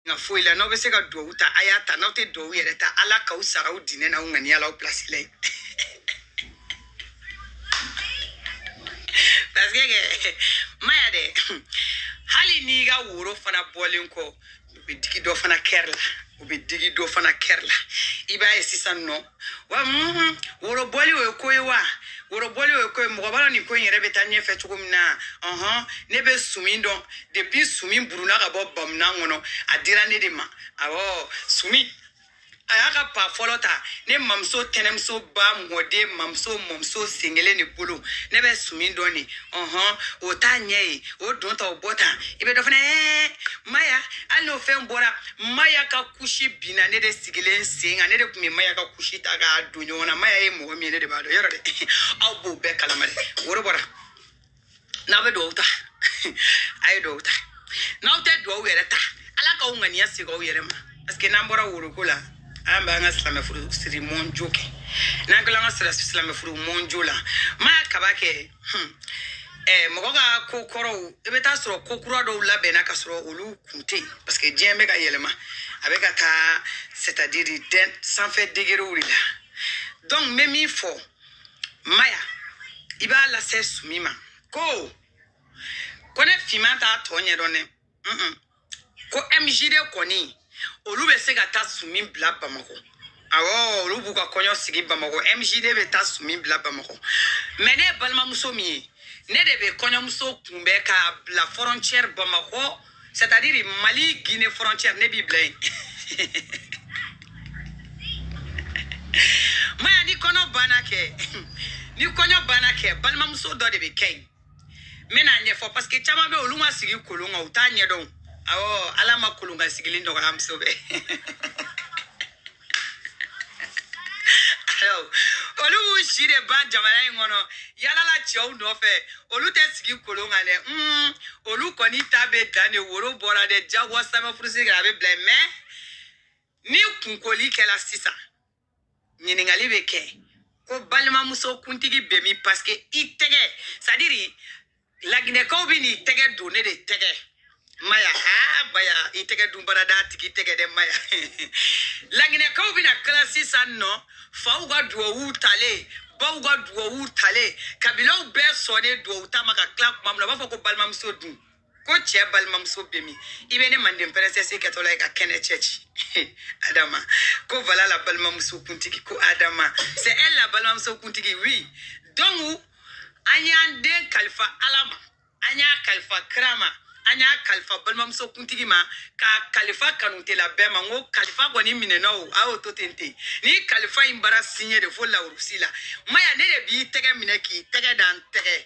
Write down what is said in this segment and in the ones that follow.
nka foyi la n'aw bɛ se ka duwawu ta a y'a ta n'aw tɛ duwawu yɛrɛ ta ala k'aw sara aw diinɛ n'aw ŋaniya la aw pilasi la yen parce que maya dɛ hali n'i ka woro fana bɔlen kɔ u bɛ digi dɔ fana kɛri la u bɛ digi dɔ fana kɛri la i b'a ye sisan nɔ wa mhm, worobɔli o ye ko ye wa worobɔli o ye ko ye mɔgɔ b'a dɔn nin ko in yɛrɛ bɛ taa ɲɛfɛ cogo min na ɔhɔn ne bɛ sumi dɔn depuis sumi buruna ka bɔ bamunan kɔnɔ a dira ne de ma awɔ sumi a y'a ka pa fɔlɔ ta ne mamuso tɛnɛmuso ba mɔden mamuso sen kelen de bolo ne bɛ sumi dɔn de ɔhɔn o t'a ɲɛ ye o don ta o bɔ ta i bɛ dɔ fana ɛɛ maya hali n'o fɛn bɔra maya ka kusi binna ne de sigilen sen kan ne de tun bɛ maya ka kusi ta k'a don ɲɔgɔn na maya ye mɔgɔ min ye ne de b'a dɔn yɔrɔ de aw b'o bɛɛ kalama de woro bɔra n'aw bɛ dugawu ta a ye dugawu ta n'aw tɛ dugawu yɛrɛ ta ala k'aw ŋaniya segin aw yɛrɛ ma paseke n'an bɔra woroko la an b'an ka silamɛ furu siri mɔnjo kɛ n'an kilala an ka silamɛ furu mɔnjo la maya kaba kɛ Hmm. Eh, mɔgɔ ka ko kɔrɔw i bɛ taa sɔrɔ ko kura dɔw labɛnna ka sɔrɔ olu kun tɛ yen parce que diɲɛ bɛ ka yɛlɛma a bɛ ka taa c'est à dire den sanfɛ degerew de la donc n bɛ min fɔ maya i b'a lase sumi ma ko kone finman t'a tɔ ɲɛdɔn dɛ ko mjd kɔni olu bɛ se ka taa sumi bila bamakɔ awɔ olu b'u ka kɔɲɔ sigi bamakɔ mjd bɛ taa sumi bila bamakɔ mɛ ne ye balimamuso min ye ne de bɛ kɔɲɔmuso kunbɛn k'a bila fɔrɔncɛri bamakɔ c'est à dire mali guine fɔrɔncɛri ne b'i bila yen maya ni kɔnɔ banna kɛ ni kɔɲɔ banna kɛ balimamuso dɔ de bɛ kɛ yen n bɛn'a ɲɛfɔ paseke caman bɛ olu ma sigi kolon kan u t'a ɲɛdɔn awɔ ala ma kolon kan sigili nɔgɔya muso bɛɛ olu b'u si de ban jamana in kɔnɔ yalala cɛw nɔfɛ olu tɛ sigi kolon kan dɛ hmm, olu kɔni ta bɛ dan de woro bɔra dɛ jagoya sanfɛ furusiri kɛra a bɛ bila yen mɛ ni kunkoli kɛla sisan ɲininkali bɛ kɛ ko balimamuso kuntigi bɛ min paseke i tɛgɛ sadiri laginɛkaw bɛn'i tɛgɛ don ne de tɛgɛ maya aa baya i tɛgɛ don baradatigi tɛgɛ dɛ maya laginɛkaw bɛna kila sisan nɔ faw ka duwawuw talen baw ka duwawuw talen kabilaw bɛɛ sɔnnen duwawu ta ma ka kila kuma min na u b'a fɔ ko balimamuso dun ko cɛ balimamuso bɛ min i bɛ ne manden princesse kɛtɔla ye ka kɛnɛ cɛ ci adama ko voilà la balimamuso kuntigi ko adama c'est elle la balimamuso kuntigi oui donc an y'an den kalifa ala ma an y'a kalifa kira ma an y'a kalifa balimamuso kuntigi ma ka kalifa kanutela bɛɛ ma n ko kalifa kɔni minɛna o a y'o to ten ten ni kalifa in bara siɲɛ de fo lawurusi la maya ne de b'i tɛgɛ minɛ k'i tɛgɛ da n tɛgɛ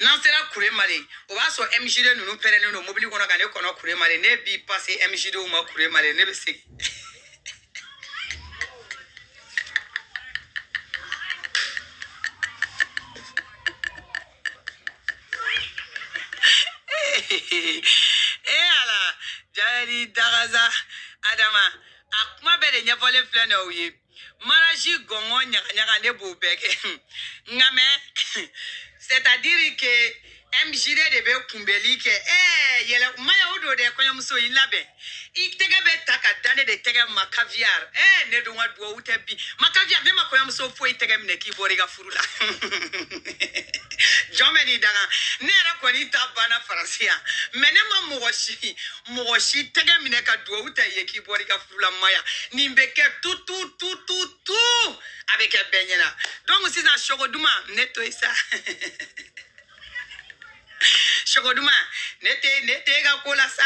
n'an sera kuremale o b'a sɔrɔ mjd ninnu pɛrɛlen don mobili kɔnɔ ka ne kɔnɔ kuremale ne b'i pase mjdw ma kuremale ne bɛ segin e ala jayɛri dagaza adama a kuma bɛɛ de ɲɛfɔlen filɛ na o ye mariage gɔngɔn ɲagaɲaga ne b'o bɛɛ kɛ nka mɛ c'est à dire que mjd de bɛ kunbɛli kɛ ɛɛ yɛlɛ maya o don dɛ kɔɲɔmuso i labɛn i tɛgɛ bɛ ta ka da ne de tɛgɛ ma caviar ɛɛ ne dun ka duwawu tɛ bi ma caviar ne ma kɔɲɔmuso foyi tɛgɛ minɛ k'i bɔra i ka furu la jɔn bɛ n'i danga ne yɛrɛ kɔni ta banna faransi yan mɛ ne ma mɔgɔ si mɔgɔ si tɛgɛ minɛ ka duwawu tɛ ye k'i bɔra i ka furu la maya nin bɛ kɛ tu tu tu tu tu a bɛ kɛ bɛɛ ɲɛna donc sisan sogo duman ne to yen sa sogo duman ne tɛ ne tɛ e ka ko la sa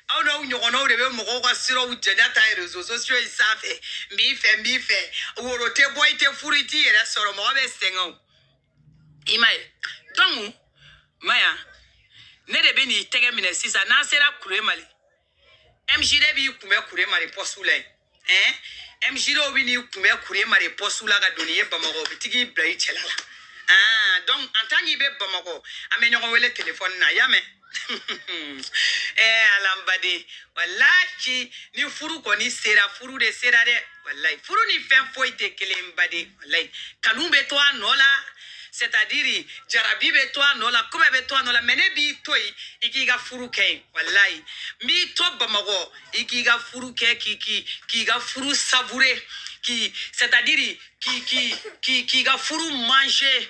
aw n'aw ɲɔgɔnnaw de bɛ mɔgɔw ka siraw jɛnɛ ta réseaux sociaux in sanfɛ n b'i fɛ n b'i fɛ woro tɛ bɔ i tɛ furu i t'i yɛrɛ sɔrɔ mɔgɔ bɛ sɛgɛn o i ma ye donc maya ne de bɛ n'i tɛgɛ minɛ sisan n'an sera kuremale MJD b'i kunbɛ kuremale pɔsu la yen ɛn MJD bɛ n'i kunbɛ kuremale pɔsu la ka don n'i ye Bamakɔ u bɛ taga i bila i cɛla la ah donc en tant k'i bɛ Bamakɔ an bɛ ɲɔgɔn wele telefɔni na i y'a mɛn ɛɛ ala n baden walahi ni furu kɔni sera furu de sera dɛ walayi furu ni fɛn foyi tɛ kelen ye baden walayi kanu bɛ to a nɔ la c'est à dire jarabi bɛ to a nɔ la kuma bɛ to a nɔ la mɛ ne b'i to yen i k'i ka furu kɛ yen walayi n b'i to bamakɔ i k'i ka furu kɛ k'i k'i k'i ka furu savourer k'i c'est à dire k'i k'i k'i k'i ka furu manger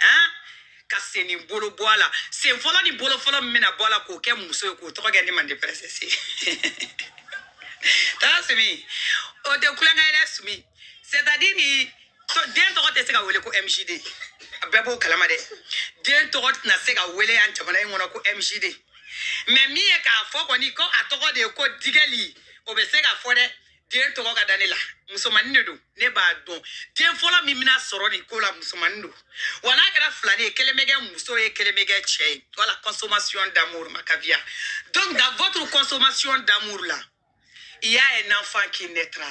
han ka sen ni bolo bɔ a la sen fɔlɔ ni bolo fɔlɔ min bɛna bɔ a la k'o kɛ muso ye k'o tɔgɔ kɛ ne mande princesse taa sumi o de kulonkɛ ye dɛ sumi c'est à dire ni tɔ- den tɔgɔ tɛ se ka wele ko mjd a bɛɛ b'o kalama dɛ den tɔgɔ tɛna se ka wele yan jamana in kɔnɔ ko mjd mɛ min ye k'a fɔ kɔni ko a tɔgɔ de ye ko digɛli o bɛ se ka fɔ dɛ den tɔgɔ ka da ne la musomanin de don ne b'a dɔn den fɔlɔ min bɛna sɔrɔ nin ko la musomanin don wa n'a kɛra filanin ye kelen bɛ kɛ muso ye kelen bɛ kɛ cɛ ye voilà consommation d'amour ma kabiya donc dans votre consommation d'amour la il y a un enfant qui naîtra